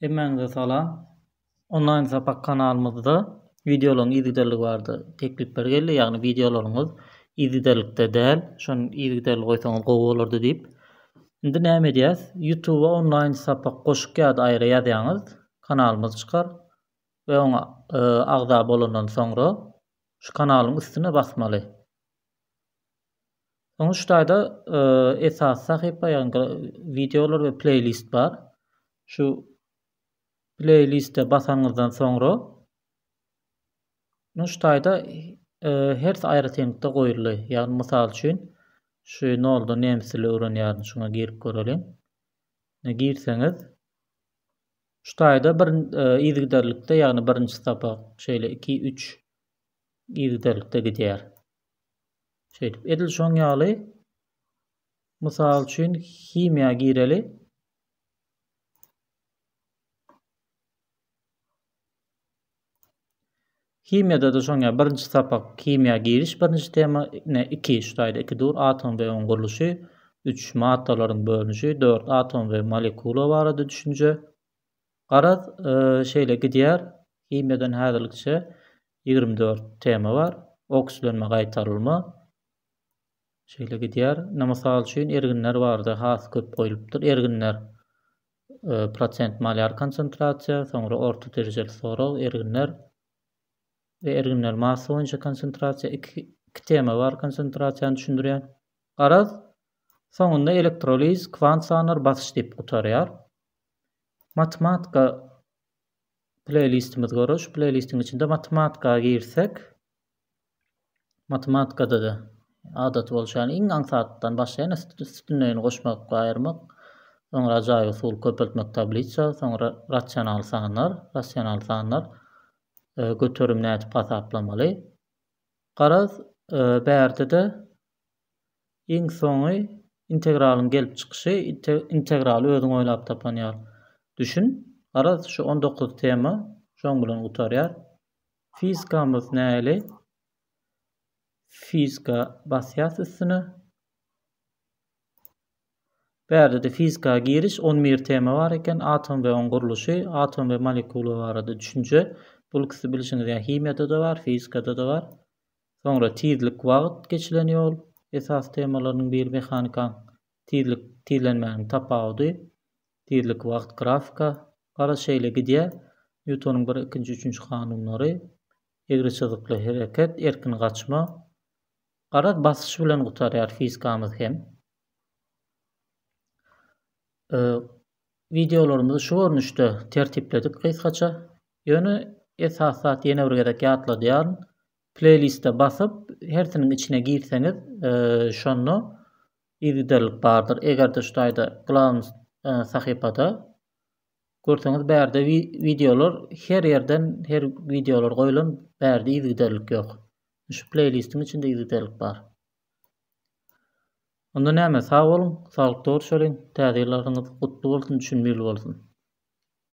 Hemmäňize salam. Onlaýn sapak kanalymyzda wideolaryň yzygiderligi barada teklipler geldi, ýagny wideolaryňyz yzygiderlikde däl, şony yzygiderli goýsaňyz gowy bolardy diýip. Indi näme edýäs? Ýutuba onlaýn sapak goşuk ýa-da aýra ýazýaňyz, kanalymyz çykar we oňa agza bolandan soňra şu kanalyň üstüne basmaly. Soňra şu taýda e, esas sahypa, ýagny wideolar we pleýlist bar. Şu pleýliste basanyňyzdan soňra muňa şu taýda e, her aýratynlykda goýuldy. Ýagny mysal üçin şu nolda nemes dili öwrenýärin, şuňa girip göreliň. Ine girseňiz şu taýda bir e, yzygiderlikde, ýagny birinji sapak, şeýle 2, 3 yzgiderlikde gidýär. Şeýdip, edil şoň ýaly, mysal üçin, himiýa gireli. Himiýada-da şoň ýaly, birinji sapak himiýa giriş, birinji tema, ne, iki, şu taýda iki dur, atom we onuň gurluşy, üç, maddalaryň bölünişi, dört, atom we molekula barada düşünje, Garaz, şeýle gidýär. Himiýadan häzirlikçe ýigrimi dört tema bar. Okslenme, gaýtarylma. Şeýle gidýär. Indi mysal üçin erginler bardy, has köp goýlupdyr. Erginler e, prosent malýar konsentrasiýa, soňra orta derejeli sorag, erginler we erginler massa boýunça konsentrasiýa. Iki, iki tema bar konsentrasiýany düşündirýän. Garaz, soňunda elektroliz, kwant sanlar, basyş diýip gutarýar. Matematika pleýlistimiz görür. Şu pleýlistiň içinde matematika girsek, matematikada-da adaty bolşy ýaly iň aňsatdan başlaýan üstünleýini goşmak we aýyrmak, soňra ajaýyp usul köpeltmek tablisa, soňra rasional sanlar, rasional sanlar e, göterim nädip hasaplamaly. Garaz, e, bärde-de Iň soňy integralyň gelip çykyşy integraly özüň oýlap tapan ýaly düşün. Garaz şu on dokuz tema şoň bilen gutarýar. Fizikamyz näli? Fizika basýas üstüne. Bärde-de fizika giriş on bir tema bar eken. Atom we oň gurluşy, atom we molekula barada düşünje. Bul ikisi bilşiňiz ýaly himiýada-da bar, fizikada-da bar. Soňra tizlik wagt geçilen ýol esasy temalarynyň biri mehanika tizlik tizlenmäniň tapawudy tizlik wagt grafika garaz şeýle gidýär Nýutonyň bir ikinji üçünji kanunlary egri çyzykly hereket erkin gaçma garaz basyş bilen gutarýar fizikamyz hem Wideolarymyzy şu görnüşde tertipledik gysgaça. Ýöne esasy zat ýene bir gezek ýatladýaryn. Pleýliste basyp, hersiniň içine girseňiz, şonda yzygiderlik bardyr. Eger-de şu taýda Glawny sahypada görseňiz bärde wideolar her ýerden her wideolar goýlan bärde yzygiderlik ýok. Şu pleýlistiň içinde yzygiderlik bar. Onda näme sag boluň, saglykda görşeliň, täze ýyllaryňyz gutly bolsun, düşünmili bolsun.